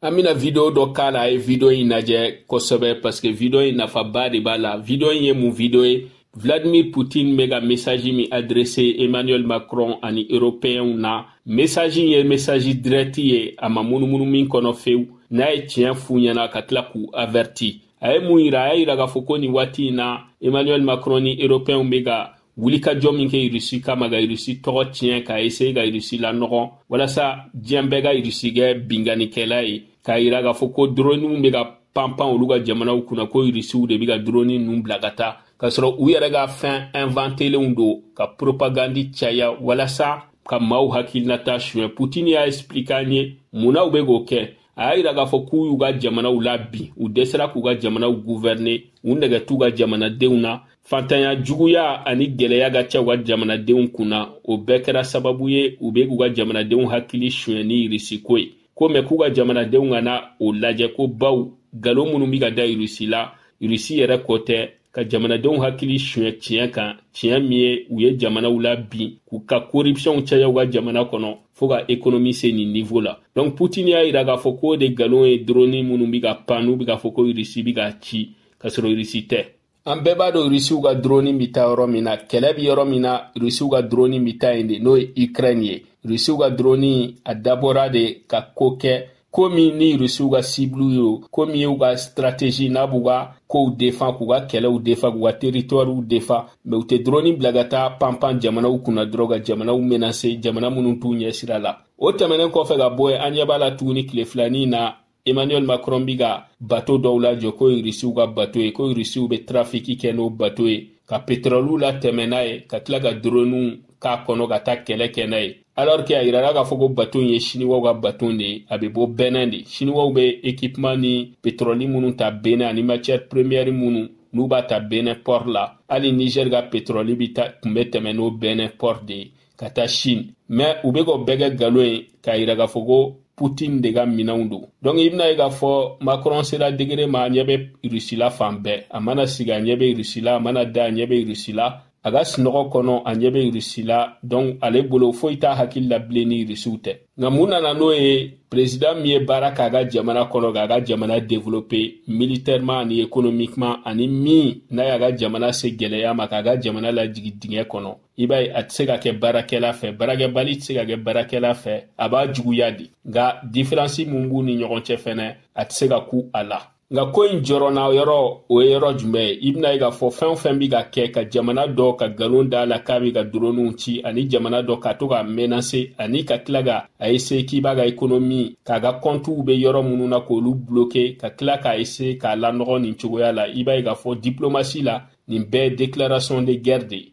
an bɛna video dɔ k'a la a ye video in lajɛ kosɛbɛ parce que video in nafaba de b'a la video in ye mun video ye Vladimir Poutine bɛ ka message min adressé Emmanuel Macron ani européens na message in ye message direct ye a ma munumunu min kɔnɔ fewu n'a ye tiɲɛ f'u ɲɛ na ka tila k'u averti a ye mun yira a y'a yira k'a fɔ ko nin waati in na Emmanuel Macron ni européens bɛ ka wulikajɔ min kɛ irisi kama ka irisi tɔgɔ tiɲɛ ka eseye ka irisi lanɔgɔ walasa diɲɛ bɛɛ ka irisi kɛ binkannikɛla ye k'a yira k'a fɔ ko doroniw bɛ ka panpan olu ka jamanaw kunna ko irisiw de bɛ ka doroni ninnu bila ka taa k'a sɔrɔ u yɛrɛ ka fɛn ɛnvantelenw don ka propagandi caya walasa ka maaw hakilinata suɲɛ putini y'a explike an ye mun na u bɛ k'o kɛ a y'a yira k'a fɔ k'u y'u ka jamanaw labin u dɛsɛra k'u ka jamanaw guvɛrine u nɛgɛ t'u ka jamanadenw na fantanya juguya ani gwɛlɛya ka ca u ka jamanadenw kun na o bɛɛ kɛra sababu ye u be k'u ka jamanadenw hakili suɲɛ ni irisiko ye ko mɛ k'u ka jamanadenw kana o lajɛ ko baw nkalon minnu be ka da irisi la irisi yɛrɛ kɔ tɛ ka jamanadenw hakili suɲɛ tiɲɛ kan tiɲɛ min ye u ye jamanaw labin k'u ka koripsiyɔnw caya u ka jamana kɔnɔ fo ka ekonomi se nin nivo la donk putin y'a yira k'a fɔ k'o de nkalon ye droni minnu be ka pan n'u be k'a fɔ ko irisi be k'a ci k'a sɔrɔ irisi tɛ an bɛɛ b'a dɔn irisiw ka droni be taa yɔrɔ min na kɛlɛ be yɔrɔ min na irisiw ka droni be taa yen de n'o ye ukraine ye irisiw ka droni a dabɔra de ka ko kɛ ko min ye irisiw ka sibulu ye o ko min y'u ka sitrategi n'a b'u ka kow defan k'u ka kɛlɛw defan k'u ka teritɔriw defan mɛ u tɛ dɔrɔni bila ka taa panpan jamanaw kunna dɔrɔn ka jamanaw menase jamana minnu t'u ɲɛ sira la o tɛmɛnen kɔfɛ ka bɔ yen an ɲɛ b'a la tuguni tile fila nin na emmanuel macron bi ka bato dɔw lajɔ k'o ye irisiw ka bato ye ko irisiw bɛ trafiki kɛ n'o bato ye ka petrɔliw latɛmɛ n'a ye ka tila ka doroniw k'a kɔnɔ ka taa kɛlɛ kɛ n'a ye alors que a yirala k'a fɔ ko bato ye siniwaw ka bato de ye a bɛ bɔ bɛnɛn de siniwaw bɛ ekipman ni petrɔli minnu ta bɛnɛn ani matière première minnu n'u b'a ta bɛnɛn port la hali niger ka petrɔli bɛ ta tun bɛ tɛmɛ n'o bɛnɛn port de ye ka taa chine mais u bɛ k'o bɛɛ kɛ nkalon ye k'a yira k'a fɔ ko putin de ka minɛnw don donc i bɛn'a ye k'a fɔ macron sera degere ma a ɲɛ bɛ rusi la fan bɛɛ a mana sigi a ɲɛ bɛ rusi la a mana da a ɲɛ bɛ rusi la a ka sinɔgɔ kɔnɔ a ɲɛ bɛ irisi la donc ale bolo foyi t'a hakili la bilen ni irisiw tɛ nka mun nana n'o ye perezidan min ye baara k'a ka jamana kɔnɔ k'a ka jamana develope militɛrema ani ekonomikema ani min n'a y'a ka jamana se gɛlɛya ma k'a ka jamana lajigi dingɛ kɔnɔ i b'a ye a tɛ se ka kɛ baarakɛla fɛ baarakɛbali tɛ se ka kɛ baarakɛla fɛ a b'a juguya de nka diferansi min b'u ni ɲɔgɔn cɛ fɛnɛ a tɛ se ka kun a la nka ko in jɔrɔna yɔrɔ o ye yɔrɔ jumɛn ye i bɛn'a ye k'a fɔ fɛn o fɛn bɛ ka kɛ ka jamana dɔ ka nkalon da a la k'a bɛ ka doroniw ci ani jamana dɔ ka to k'a menase ani ka tila ka a ese k'i b'a ka ekonomi k'a ka kɔntiw bɛ yɔrɔ minnu na k'olu bloke ka tila k'a ese k'a lanɔgɔ nin cogoya la i b'a ye k'a fɔ diplomasi la nin bɛɛ ye déclaration de guerre de ye